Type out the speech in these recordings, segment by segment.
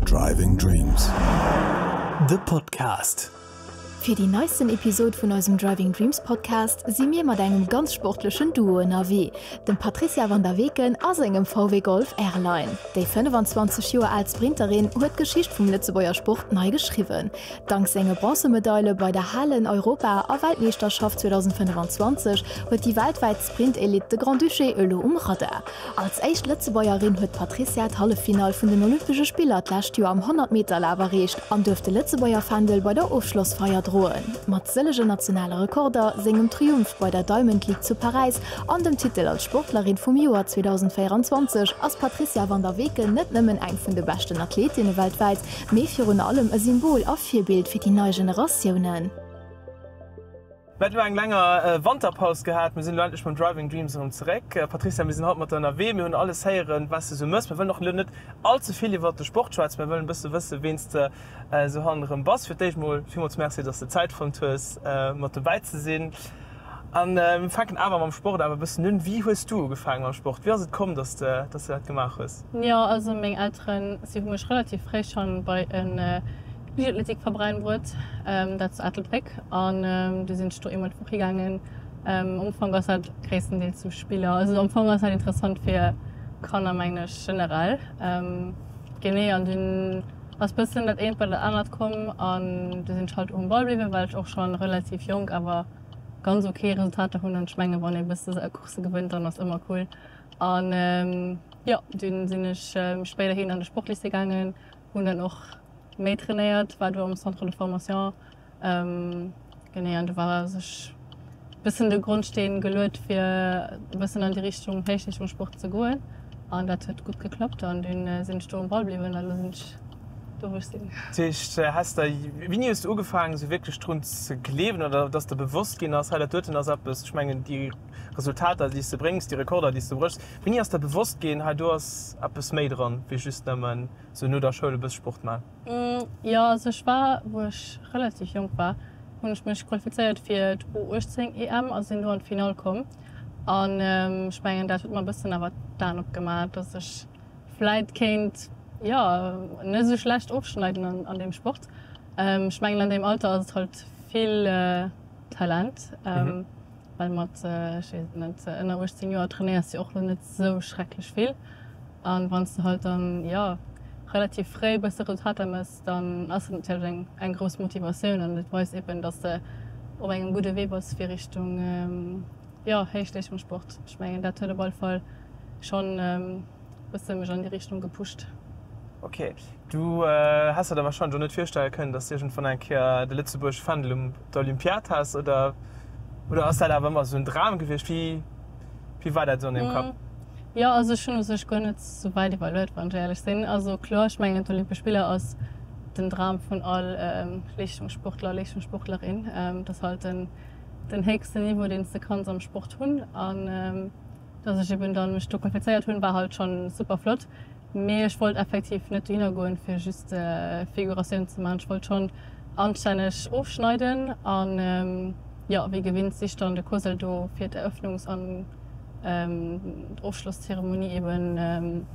Driving Dreams, de Podcast. Fir déi neisten Episode vun eisem Driving Dreams Podcast si mir mat engem ganz sportlechen Duo ënnerwee, dem Patricia Van der Weken a sengem VW Golf R-Line. Déi 25 Joer al Sprinterin huet d'Geschicht vum Lëtzebuerger Sport nei geschriwwen. Dank senge Bronzemedaile bei der Halen-, Europa a Weltmeeschterschaft 2025 huet déi weltwäit D'Sprint-Elite, de Grand-Duché elo um Radar. Als éischt Lëtzebuergerin huet d'Patrizia d'Halleffinall vun den Olympesche Spiller d'lescht Joer am 100 Meter Laf erreecht an duerft de Lëtzebuerger Fändel bei der Ofschlossfeier droen. Mat sëllege nationale Rekorder, sengem Triumph bei der Diamond League zu Paräis an dem Titel als Sportlerin vum Joer 2024 ass d'Patrizia van der Weken net nëmmen eng vun de beschten Athletinne weltwäit, mee virun allem e Symbol a Virbild fir déi nei Generatiounen. Mir hat elo eng länger Wanterpaus gehat, mir sinn elo endlech mam Driving Dreams erëm zeréck. Patricia, mir sinn haut mat der ënnerwee, mir hunn alles héieren, wat s de sou mëss. Mir wëllen och elo net all ze vill iwwert de Sport schwätzen, mä wëllen e bësse wëssen, ween s de sou hannen erëm bass. Fir d'éischt emol villmools Merci, dass s de Zäit fonnt hues, mat dobäi ze sinn. A mir fänken awer mam Sport awer e bëssen un. Wéi hues du ugefaange mam Sport? Wéi ass et komm, dass s de dat gemaach hues? Jo, also meng Elteren, si hu mech relativ fréi schonn bei e Wéi huet d'Musik verbreien Wuert dat zu Ettelbréck an du sinn ech do eemol d'Woch higaangen. Am Ufank ass dat gréisstendeels zum Spiller, also am Fong ass dat interessant fir Kanner mengen ech generell. Genee an dunn ass bëssen dat eent bei dat anert komm an du sinn ech halt um Ball bliwwen, well ech och schonn relativ jonk awer ganz ok Resultater hunn an ech mengen wann ee bësse sou Coursse gewënnt dann ass ëmmer cool. An jo dunn sinn ech spéiderhin an de Sportlycée gaangen Hun dann och méi trainéiert, war do am Centre de Formation genee an do war sech bëssen de Grondsteen geluet fir bëssen an déi Richtung Héichleeschtungssport ze goen an dat huet gutt geklappt an dunn sinn ech do um Ball bliwwen an elo sinn ech do wou ech sinn. Dat heescht häss der, wéini hues de ugefaangen esou wierklech drun ze gleewen oder datt der bewosst ginn ass, hei dat doten ass eppes, ech mengen déi. Resultater, déi s de bréngs, déi Rekorder, déi s de bréchs. Wéini ass der bewosst ginn, hei do ass eppes méi dran, wéi just nëmmen esou no der Schoul e bëss Sport maachen? Jo, also ech war, wou ech relativ jonk war, hunn ech mech qualifizéiert fir d'U18-EM a sinn do an d'Finall komm. An ech mengen, dat huet mer e bëssen awer d'Aen opgemaach, dass ech vläit kéint, jo, net esou schlecht ofschneiden an deem Sport. Ech mengen, an deem Alter ass et halt vill Talent. Well mat, ech weess et net, ënner 18 Joer trainéiers de jo och lo net esou schrecklech vill. A wann s de halt dann, jo, relativ fréi e bësse Resultater méchs, dann ass dat natierlech eng grouss Motivatioun an et weist eben, dass de op engem gudde Wee bass fir Richtung, jo, Héichleeschtungssport. Ech mengen, dat huet op alle Fall schonn, Bësse mech an déi Richtung gepusht. Ok, du häss der der wahrscheinlech och net virstelle kënnen, dass du iergendwann eng Kéier de Lëtzebuerg Fändel um der Olympiad häss? Oder, oder ass dat awer ëmmer esou en Dram gewiescht? Wéi, wéi war dat esou an deem Kapp? Jo, also ech hunn u sech guer net sou wäit iwwerluet, wann ech éierlech sinn. Also kloer, ech mengen d'Olympesch Spiller ass den Dram vun all Leeschtungssportler, Leeschtungssportlerin. Dat ass halt den, den héchsten Niveau, deen s de kanns am Sport hunn. An Dass ech eben da mech do qualifizéiert hunn, war halt schonn super flott, mee ech wollt effektiv net dohinner goen fir just Figuratioun ze maachen. Ech wollt schonn anstänneg ofschneiden an jo, wéi gewinnt sich dann de Cosel do fir d'Eröffnungs an Ofschlosszeremonie eben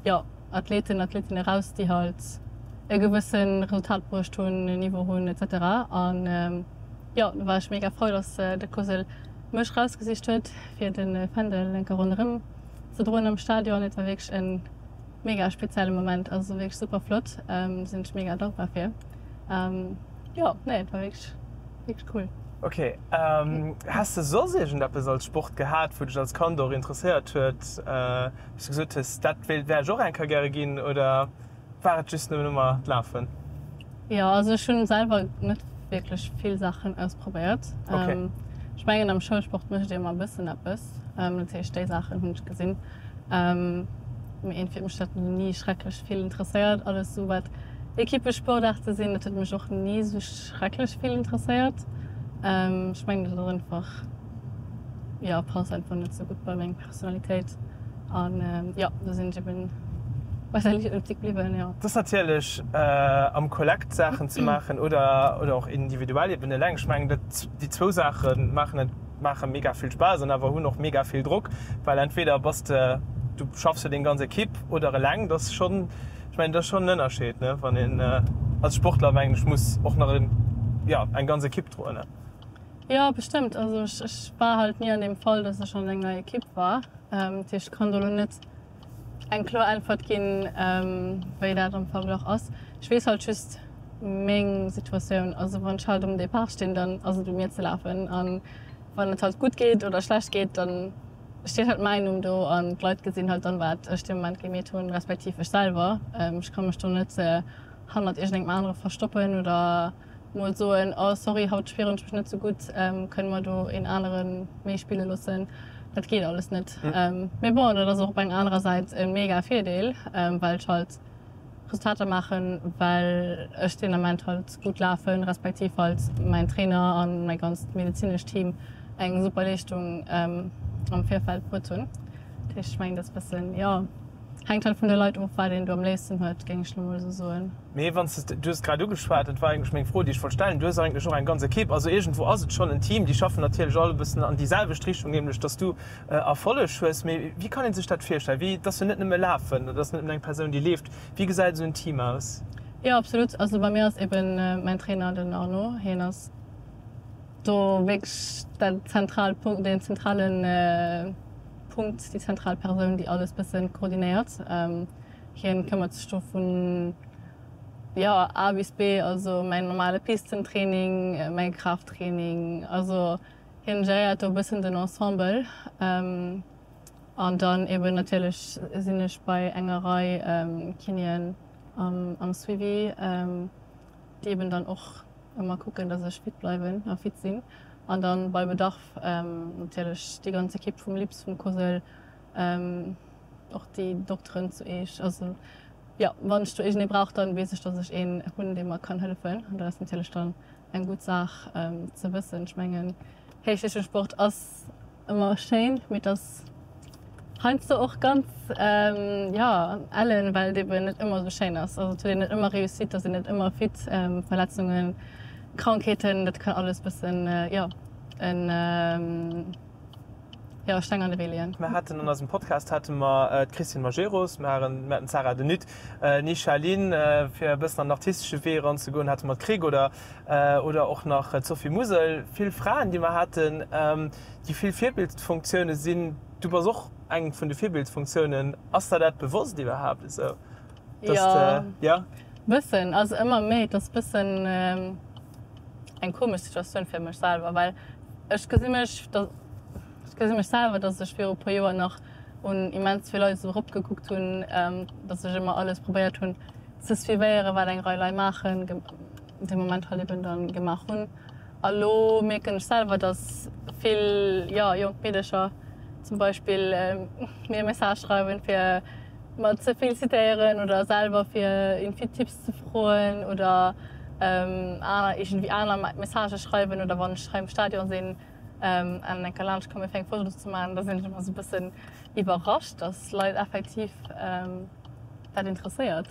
jo Athleten, Athletin eraus déi halt e gewësse Resultat bruecht hunn, e Niveau hunn etc. An jo, do war ech mega frou dass de Cosel Mech rausgesicht huet fir de Fändel eng Kéier ronderëm ze droen am Stadion. Et war wierklech e mega spezielle Moment, also wierklech super flott, sinn ech mega dankbar fir. Jo nee et war wierklech wierklech cool. Ok, häss de soss iergendeppes als Sport gehat wou dech als Kand och interesséiert huet, wous de gesot hues dat wär ech och eng Kéier gäre ginn oder? War et just nëmmen ëmmer d'Lafen? Jo, also ech hunn selwer net wierklech vill Saachen ausprobéiert. Ech mengen am Schoulsport mécht ee ëmmer e bëssen eppes, dat heescht déi Saachen hunn ech gesinn. Mee iergendwéi huet mech dat ni schrecklech vill interesséiert. Alles esou wat Equippesportaarte sinn, dat huet mech och ni esou schrecklech vill interesséiert. Ech mengen dat ass einfach, jo passt einfach net esou gutt bei meng. Personalitéit an jo do sinn ech eben wahrscheinlech en Tick bliwwen jo. Dass natierlech am Kollekt Saachen ze maachen oder oder och individuell eben eleng, ech mengen dat déi zwou Saache maachen et maache mega vill Spaass an awer hunn och mega vill Drock, well entweder bass de du schaffs fir deng ganz Ekipp oder eleng, dass schonn ech mengen dat ass schonn en Ënnerscheed ne wann een als Sportler mengen ech muss och nach jo eng ganz Ekipp droen ne. Jo bestëmmt, also ech war halt ni an deem Fall dass ech an enger Equipe war, dat heescht ech kann do elo net eng kloer Äntwert ginn wéi dat am Verglach ass. Ech weess halt just meng Situatioun, also wann ech halt um Depart stinn dann ass et u mir ze lafen an wann et halt gutt geet oder schlecht geet dann steet halt mäin Numm do an d'Leit gesinn halt dann wat ech dee Moment gemeet hunn, respektiv ech selwer. Ech ka mech do net hannert iergendengem anere verstoppen oder. mol soen, oh sorry haut spieren ech mech net sou gutt, kënne mer do een aneren méi spille loossen, dat geet alles net. Mee bon, dat ass och op enger anerer Säit e mega Virdeel, well ech halt Resultater maachen, well ech den Ament halt gutt lafen, respektiv halt mäin Trainer a mäi ganzt medezinescht Team eng super Leeschtung am Virfeld bruet hunn. Dat heescht, ech mengen, dat ass e bëssen, jo, hänkt halt vun de Leit of, wat een do am léifsten huet, géing ech lo mol sou soen. Mee wann s de, du hues et grad ugeschwat, dat war eigentlech meng Fro, déi ech wollt stellen, du hues eigentlech och eng ganz Ekipp, also iergendwou ass et schonn en Team, déi schaffen natierlech all e bëssen an déi selwecht Richtung, nämlech datt s du Erfolleg hues. Mee wéi kann ee sech dat virstellen? Wéi, et ass jo net nëmme lafen oder et ass net nëmmen eng Persoun, déi leeft. Wéi gesäit esou en Team aus? Jo, absolut. Also bei mir ass eebe mäin Trainer, den Arnaud, hien ass do wierklech dat zentraalt Punkt, deen zentrale Punkt, déi zentral Persoun, déi alles bëssen koordinéiert. Hien këmmert sech do vun jo A bis B, also mäin normale Pistentraining, mäin Kraafttraining, also hien geréiert do e bëssen den Ensemble an dann eben natierlech sinn ech bei enger Rei Kinéen am Suivi déi eben dann och ëmmer kucken dass ech fit bleiwen a fit sinn an dann bei Bedarf natierlech déi ganz Ekipp vum LIPS, vum COSL Och déi Dokteren zu Eech. Also jo, wann ech do iergendee brauch, dann weess ech, dass ech een hunn, dee mer kann hëllefen. An dat ass natierlech dann eng gutt Saach ze wëssen. Ech mengen, Héichleeschtungssport ass ëmmer schéin, mee et ass heiansdo och ganz, jo, ellen, well et eben net ëmmer esou schéin ass. Also et huet een net ëmmer Réussite, et ass een net ëmmer fit. Verletzungen, Krankheeten, dat kann alles e bëssen, jo, en, hire Steng an de Wee leeën. Mer haten an eisem Podcast hate mer d'Christine Majerus, mer haten d'Sarah de Nutte, ni Charline, fir e bëssen an den artistesche Wee eranzegoen, hate mer d'Krick oder oder och nach d'Sophie Musel. Vill Fraen, déi mer haten, déi vill Virbildfunktiounen sinn. Du bass och eng vun de Virbildfunktiounen. Ass der dat bewosst iwwerhaapt esou? Dass de, jo. Bëssen, also ëmmer méi. Et ass bëssen eng komesch Situatioun fir mech selwer, well ech gesi mech, ech gesi mech selwer, dass ech viru puer Joer nach un immens vill Leit esou eropgekuckt hunn, dass ech ëmmer alles probéiert hunn ze suivéieren, wat eng Rei Lei maachen, dee Moment halt eben dann gemaach hunn. A lo mierken ech selwer, dass vill, jo, jonk Meedercher zum Beispill mir e Message schreiwen, fir mer ze felicitéieren oder selwer fir irgendwie Tipps ze froen oder aner irgendwie aner Messagë schreiwen oder wann ech hei am Stadion sinn an enker laanscht komme fir eng Foto ze man, da sinn ech ëmmer sou e bëssen iwwerrascht, dass Leit effektiv dat interesséiert.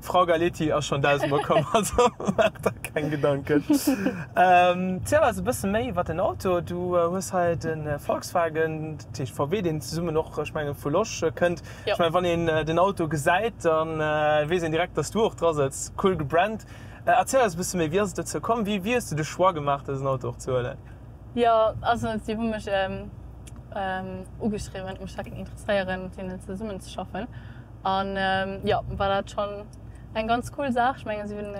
Frau Galetti ass schon dausend mol komm, also maach der keng Gedanken. Ziel ass e bësse méi wat den Auto. Du hues hei de Volkswagen, dat heescht VW, deen zesummen och ech mengen vu Losch kënnt. Ech mengen wann een den Auto gesäit, da weess een direkt dass du och dra sëtz. Cool gebrandt. Erziel eis e bësse méi, wéi ass et dozou komm? Wéi hues du de Choix gemaach dësen Auto och ze huelen? Jo also si hu mech ugeschriwwen, ech mech dat géing interesséieren mat hinnen zesummen ze schaffen. An jo, war dat schonn eng ganz cool Saach. Ech mengen, si hunn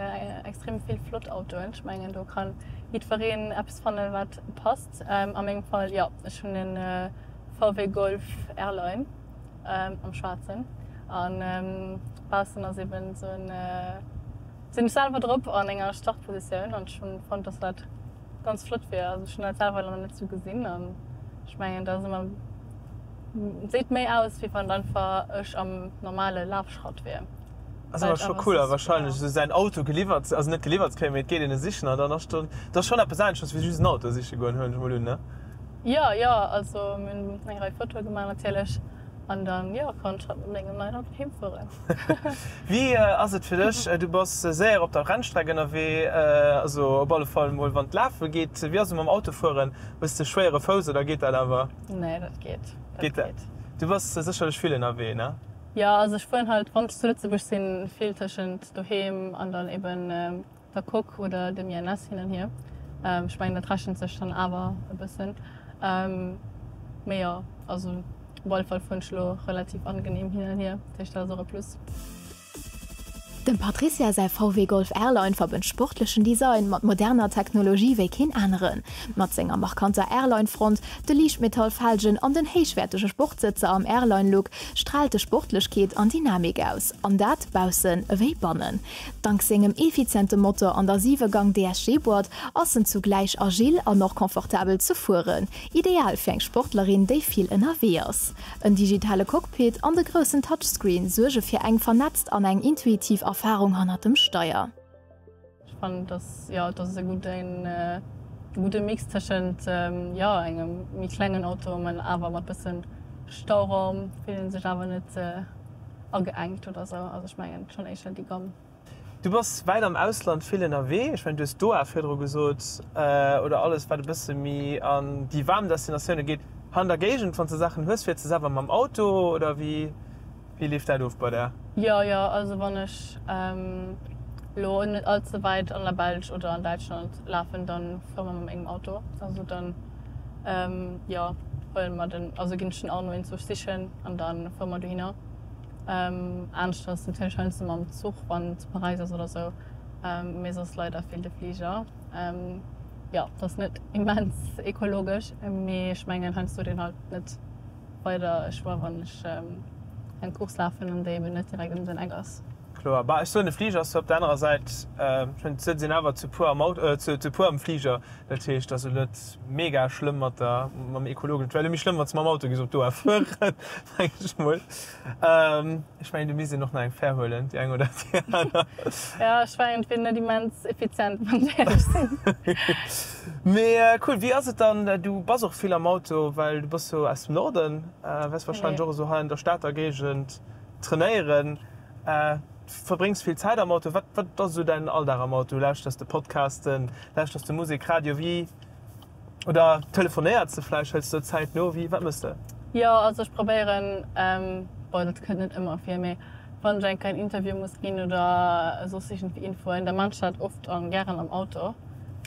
extrem vill flott Autoen. Ech mengen, do ka jiddwereen eppes fannen, wat passt. A mengem Fall, jo, ech hunn e VW Golf R-Line am Schwaarzen. An baussen ass eben esou en, sinn ech selwer drop an enger Startpositioun. An ech hunn fonnt, dass dat ganz flott wier. Also ech hunn dat selwer nach net esou gesinn. An ech mengen, dat ass ëmmer. Seet méi aus wéi wann einfach ech am normale Lafschratt wier. Ass awer scho cool a wahrscheinlech esou säin Auto geliwwert, also net geliwwert ze kréien, mee et geet een e sichen a dann ass do, dat ass schonn eppes aneschters wéi just en Auto siche goen, huelen ech mol un, ne? Jo, jo, also mir hunn eng Rei Fotoe gemaach natierlech an dann, jo, konnt ech haut mat mengem neien Auto heem fueren. Wéi ass et fir dech, du bass séier op der Rennstreck ënnerwee, also op alle Fall mol wann et lafe geet, wéi ass et mam Autofueren, hues de schwéiere Fouss oder geet dat awer? Nee, dat geet. Geet dat? Du bass sécherlech vill ënnerwee, ne? Jo, also ech fueren halt, wann ech zu Lëtzebuerg sinn, vill tëschent doheem an dann eben der Coque oder dem INS hin an hier. Ech mengen, dat rechent sech dann awer e bëssen. Mee jo, also op alle Fall fueren ech elo relativ angeneem hin an hier, dat heescht, dat ass och e Plus. Dem Patricia säi VW Golf R-Line verbënnt sportlechen Design mat moderner Technologie wéi keen aneren. Mat senger markanter R-Line-Front, de Liichtmetall-Felgen an den héichwäertege Sportsëtzer am R-Line-Look straalt de Sportlechkeet an Dynamik aus, an dat baussen ewéi bannen. Dank sengem effiziente Motor an der 7 Gang DSG-Boîte ass en zugläich agil an och komfortabel ze fueren, ideal fir eng Sportlerin, déi vill ënnerwee ass. En digitale Cockpit an de groussen Touchscreen suerge fir eng vernetzt an eng intuitiv Erfarung hannert dem Steier. Ech fannen dass jo dass se gutt en gudde Mix tëschent jo engem méi klengen Auto mä awer mat bëssen Stauraum, fillen sech awer net ageengt oder sou. Also ech mengen schonn éischer déi ganz. Du bass wäit am Ausland vill ënnerwee. Ech mengen, du hues Doha virdru gesot, oder alles, wat e bësse méi an déi waarm Destinatioune geet. Hei an der Géigend, wann s de Saachen hues, fiers de selwer mam Auto, oder wéi leeft dat of bei der? Jo, jo. Also wann ech elo net all ze wäit an der Belsch oder an Däitschland lafen, da fuere mer mat mengem Auto. Also da jo, huele mer den, also ginn ech den Arno eenzebuerg sichen an da fuere mer dohinner. Aanescht ass natierlech heiansdo mam Zuch, wann een zu Paräis ass oder sou, mee soss leider vill de Fliger. Jo, et ass net immens ekologesch, mee ech mengen heiansdo deen halt net weider Choix, wann ech eng Course lafen an déi eben net direkt ëm den Eck ass. Kloer, bah, ech soen, de Fliger ass zwar op der anerer Säit, ech mengen, et sëtzt een awer zu puer am Auto, zu puer am Fliger, dat heescht, et ass elo net mega schlëmm mat der, mam ekologeschen, et wär elo méi schlëmm, wann s de mam Auto géifs op d'Our fueren, mengen ech mol. Ech mengen, du misst een och nach eng Fär huelen, déi eng oder déi aner. Ja, ech war iergendwéi net immens effizient, wann ech éierlech sinn. Mee cool. Wéi ass et dann, du bass och vill am Auto, well du bass jo aus dem Norden, wäerts warscheinlech och esou hei an der Stater Géigend trainéieren, verbréngs vill Zäit am Auto. Wat, wat ass esou däin Alldag am Auto? Lauschters de Podcasten, lauschters de Musek, Radio, wéi? Oder telefonéiert se vläicht, hëls de Zäit no, wéi, wat mëss de? Jo, also ech probéieren, bon dat kënnt net ëmmer vir, mee wann ech eng Kéier en Interview muss ginn oder soss iergendwéi Infoen, da man ech dat oft a gären am Auto,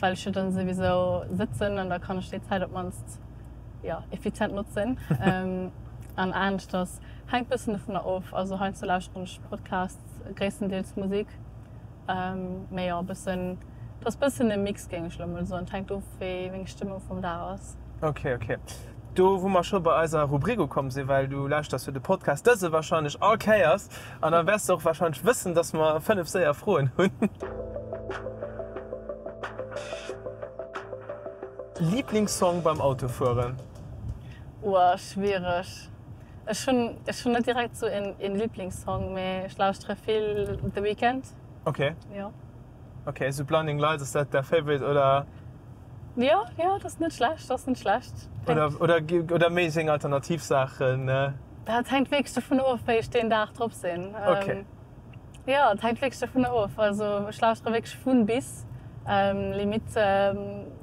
well ech jo dann souwisou sëtzen an da kann ech déi Zäit op d'mannst jo effizient notzen. An aneschters hänkt bëssen dovunner of, also heiansdo lauschteren ech Podcasts, gréisstendeels Musek. Mee jo, e bëssen, et ass e bëssen e Mix, géing ech elo mol soen. Et hänkt of, wéi meng Stëmmung vum Dag ass. Ok, ok. Do wou mer scho bei eiser Rubrik ukomm sinn, well du lauschters jo de Podcast, dëse warscheinlech all Kéiers, an da wäers de och warscheinlech wëssen, dass mer fënnef séier Froen hunn. Liiblingssong beim Autofueren? Oua, schwiereg. Ech hunn ech hunn net direkt esou een een Liblingssong, mee ech lauschtere vill The Weeknd. Ok. Jo. Ok, esou Blinding Lights, ass dat däi Favorite oder? Jo, jo, dat ass net schlecht, dat ass net schlecht. Oder oder oder méi seng alternativ Saachen? Dat hänkt wierklech dovun of, wéi ech deen Dag drop sinn. Ok. Jo, et hänkt wierklech dovun of. Also ech lauschteren wierklech vun bis, limite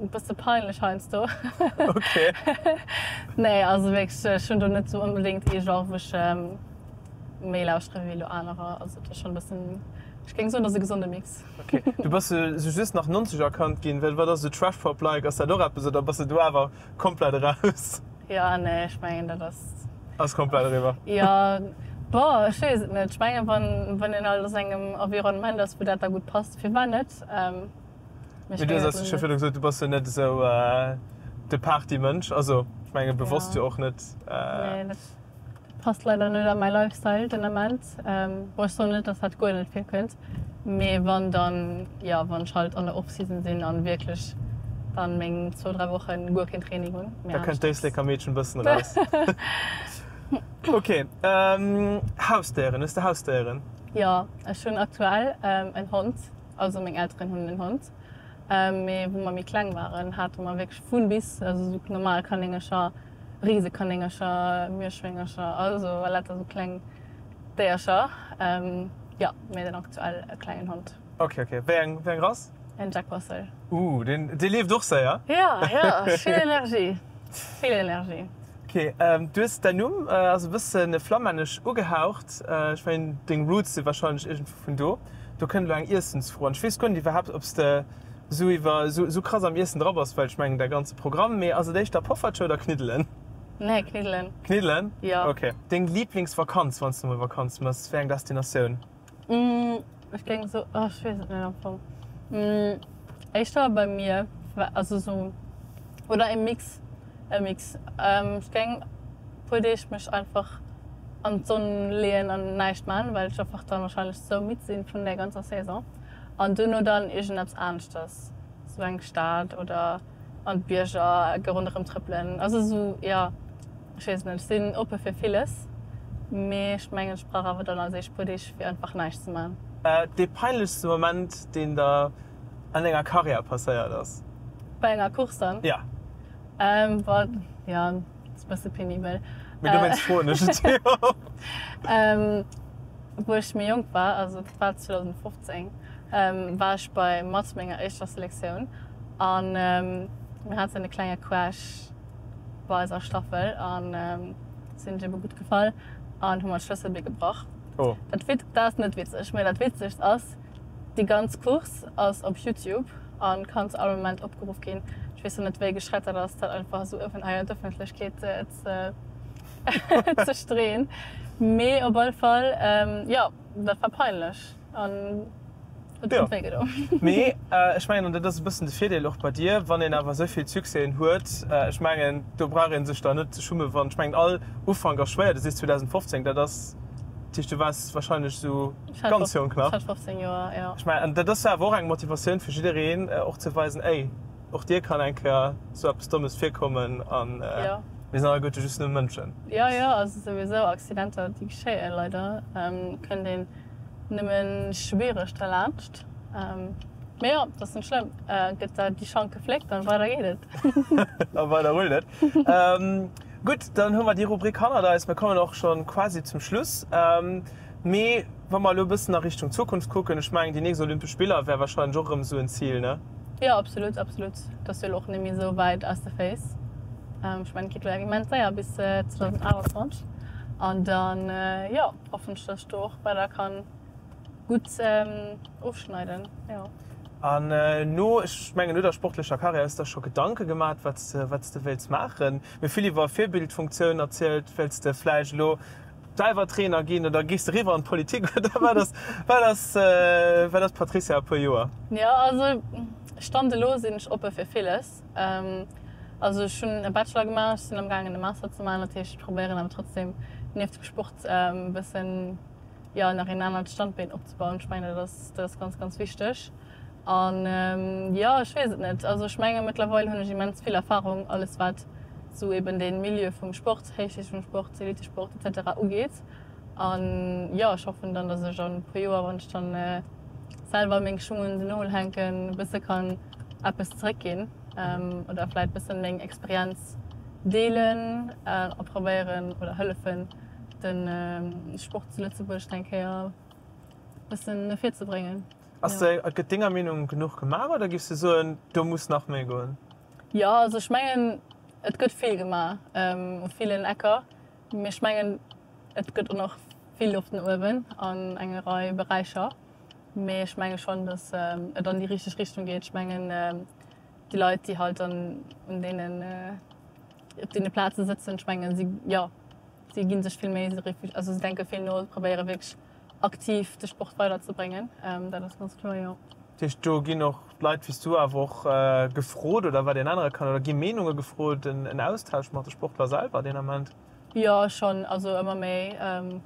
e bësse peinlech heiansdo. Nee, also wierklech ech hunn do net sou onbedéngt ee Genre wou ech méi lauschteren ewéi elo anerer. Also et ass schonn e bëssen, ech géing soen et ass e gesonde Mix. Ok, du bass jo sou just nach 90 erkannt ginn, well wat ass sou Trash Pop like, ass dat och eppes oder bass de do awer komplett eraus? Jo, nee, ech mengen dat ass. Ass komplett eriwwer. Jo, boah, ech weess et net. Ech mengen, wann een halt ass engem Environnement ass wou dat da gutt passt, firwat net? Mee du hues jo virdru gesot, du bass jo net esou de Partymënsch, also ech menge bewosst jo och net. Nee. Passt leider net a mäi Lifestyle den Ament. Bon ech soen net dass dat guer net virkënnt, mee wann dann jo, wann ech halt an der Off-Season sinn an wierklech dann meng zwou, dräi Wochen guer keen Training hunn, mee anescht. Da kënnt d'Éisleker Meedchen e bëssen eraus. Ok, Hausdéieren, hues de Hausdéieren? Jo, ech hunn aktuell en Hond, also meng Elteren hunn en Hond, mee wou mer méi kleng waren hate mer wierklech vun bis, also esou normal Kanéngercher. Risekanéngercher, Mierschwéngercher, also later sou kleng Déiercher, jo, mee den aktuell e klengen Hond. Ok, ok. Wéi eng, wéi eng Rass? En Jack Russell. Ooh, deen, dee leeft och séier. Jo, jo, vill Energie, vill Energie. Ok, du hues, däin Numm ass e bësse flammännesch ugehaucht. Ech mengen, deng Roots si wahrscheinlech iergendwou vun do. Do kënnt elo eng Iessensfro an. Ech weess guer net iwwerhaapt, ob s de. sou iwwer sou krass am Iessen dra bass, well ech mengen däi ganze Programm, mee ass et éischter Poffertje oder Kniddelen? Nee, Kniddelen. Kniddelen? Jo. Ok. Deng Liiblingsvakanz, wann s de mol Vakanz mëss, wéi eng Destinatioun? Ech géing soen, oh ech weess et net am Fong, éischter beim Mier, also sou, oder e Mix, e Mix. Ech géing puer Deeg mech einfach an d'Sonn leeën an näischt man, well ech einfach dann wahrscheinlech sou midd sinn vun der ganzer Saison. An duerno dann iergendeppes aneschters, sou eng Stad oder an d'Bierger ecke ronderëm trëppelen. Also sou, jo, ech weess et net. Ech sinn oppe fir villes, mee ech mengen, ech brauch awer dann als éischt puer Deeg fir einfach näischt ze maachen. Dee peinlechste Moment, deen der an denger Karriär passéiert ass? Bei enger Course dann? Jo. Boah, jo. Ass e bësse penibel. Mee dowéinst froen ech et jo. Wou ech méi jonk war, also dat war 2015, war ech bei mat menger éischter Selektioun a mir haten e klenge Crash bei eiser Staffel a si sech ebe gutt gefall an hu mer d'Schlësselbee gebrach. Dat ass net witzeg, mee dat Witzegst ass, Déi ganz Course ass op Youtube an kann zu all Moment opgeruff ginn. Ech weess lo net wéi geschrett dat ass dat einfach esou offen hei an d'Öffentlechkeet ze streeën, mee op all Fall jo dat war peinlech an et huet wéi gedoen. Mee ech mengen an dat ass e bëssen de Virdeel och bei dir, wann een awer esouvill Succèsen huet, ech mengen do brauch een sech dann net ze schummen, wann, ech mengen all Ufank ass schwéier, du sees 2015, dat ass, dat heescht du waars wahrscheinlech esou, Ganz jonk nach. Ech hat 15 Joer, jo. Ech mengen, dat ass jo awer och eng Motivatioun fir jiddereen, och ze weisen, ey, och dir kann eng Kéier sou eppes Dommes virkommen a mir sinn alleguerte just nëmme Mënschen. Jo, jo, also souwisou Accidenter, déi geschéien leider, kënnt een nëmme schwiereg derlaanscht. Mee jo, dat ass net schlëmm, gëtt der déi Schank gefléckt an weider geet et. A weider rullt et. Gutt, dann hu mer déi Rubrik hannert eis, mir kommen och schonn quasi zum Schluss. Mee wa mer elo e bëssen a Richtung Zukunft kucken, ech mengen, déi nächst Olympesch Spiller wäre wahrscheinlech och erëm esou en Zil, ne? Jo, absolutt, absolutt. Et ass jo elo och net méi esou wäit aus de Féiss. Ech mengen, et geet elo eng immens séier bis 2028. An da, jo, hoffen ech, dass ech do och weider ka gutt ofschneiden, jo. An elo, ech mengen, no der sportlecher Karriär hues de der scho Gedanke gemaat, wat s de wéilts maachen? Mir hu vill iwwer Virbildfunktioun erzielt. Wéilts de vläicht elo. Selwer Trainer ginn oder gees de riwwer an d'Politik oder wat ass wat ass wat ass d'Patrizia a puer Joer? Jo also stand elo sinn ech oppe fir villes. Also ech hunn e Bachelor gemaach, ech sinn am gaangen e Master ze maachen, dat heescht ech probéieren awer trotzdem nieft dem Sport e bëssen jo nach een anert Standbeen opzebauen. Ech mengen dat ass dat ass ganz ganz wichteg. An jo, ech weess et net. Also ech mengen, mëttlerweil hunn ech immens vill Erfahrung, alles wat esou eben dee Milieu vum Sport, héichstufegem Sport, Elitesport et cetera ugeet. An jo, ech hoffen dann, dass ech an e puer Joer, wann ech dann selwer meng Schung un den Nol hänken, e bësse kann eppes zeréckginn oder vläit e bësse meng Experienz deelen a probéieren oder hëllefen, de Sport zu Lëtzebuerg eng Kéier e bëssen no vir ze bréngen. Ass de, a gëtt denger Meenung genuch gemaach oder giffs de soen, do muss nach méi goen? Jo, also ech mengen et gëtt vill gemaach u villen Ecker, mee ech mengen et gëtt och nach vill Loft no uewen an enger Rei Beräicher. Mee ech menge schonn, datt et an déi richteg Richtung geet. Ech mengen déi Leit déi halt an un deenen, op deene Plaze sëtzen, ech menge si, jo, si gi sech vill Méi, si, also si denke vill no, si probéiere wierklech Aktiv de Sport weider ze bréngen, dat ass ganz kloer, jo. Dat heescht, do ginn och d'Leit wéi s du awer och gefrot oder wat een anere kann, oder gi Meenunge gefrot, en Austausch mat de Sportler selwer deen Ament? Jo, schonn. Also ëmmer méi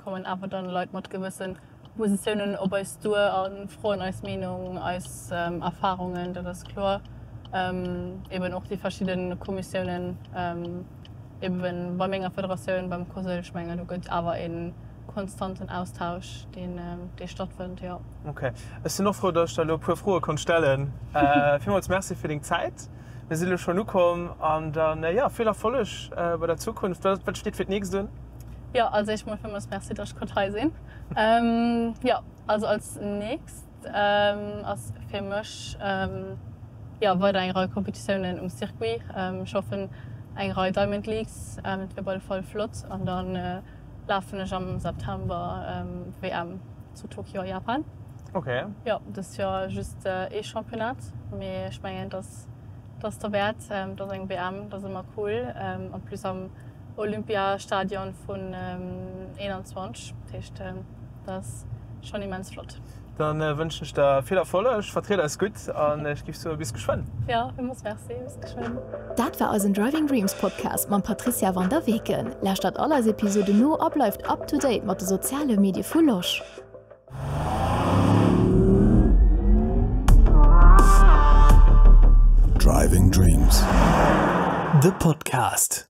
kommen awer dann Leit mat gewësse Positiounen op eis duer a froen eis Meenung, eis Erfarungen, dat ass kloer. Eben och déi verschidde Kommissiounen, eben bei menger Federatioun, beim COSL, ech mengen do gëtt awer e konstanten Austausch deen dee stattfënnt, jo. Ok. Ech sinn och frou, datt ech der elo e puer Froe konnt stellen. Villmools Merci fir deng Zäit. Mir si lo schonn ukomm an dann, jo, vill Erfolleg bei der Zukunft. Wat wat steet fir d'nächst un? Jo, als éischt mol villmools Merci, datt ech konnt hei sinn. Jo, also als nächst ass fir mech, jo, weider eng Rei Competitiounen um Circuit. Ech hoffen eng Rei Diamond Leagues, dat wier op alle Fall flott an dann, lafen ech am September WM zu Tokio a Japan. Ok. Jo, dëst Joer just ee Championnat, mee ech mengen dass dass derwäert, dass eng WM dass ëmmer cool, en plus am Olympiastadion vun 21, dat heescht dass schonn immens flott. Dann wënschen ech der vill Erfolleg, vertried eis gutt an ech giff soe bis geschwënn. Jo, villmols merci, bis geschwënn. Dat war eisen Driving Dreams Podcast mam Patricia van der Weken. Lauschtert all eis Episoden no a bleift up to date mat de soziale Medie vu Losch. Driving Dreams, de Podcast.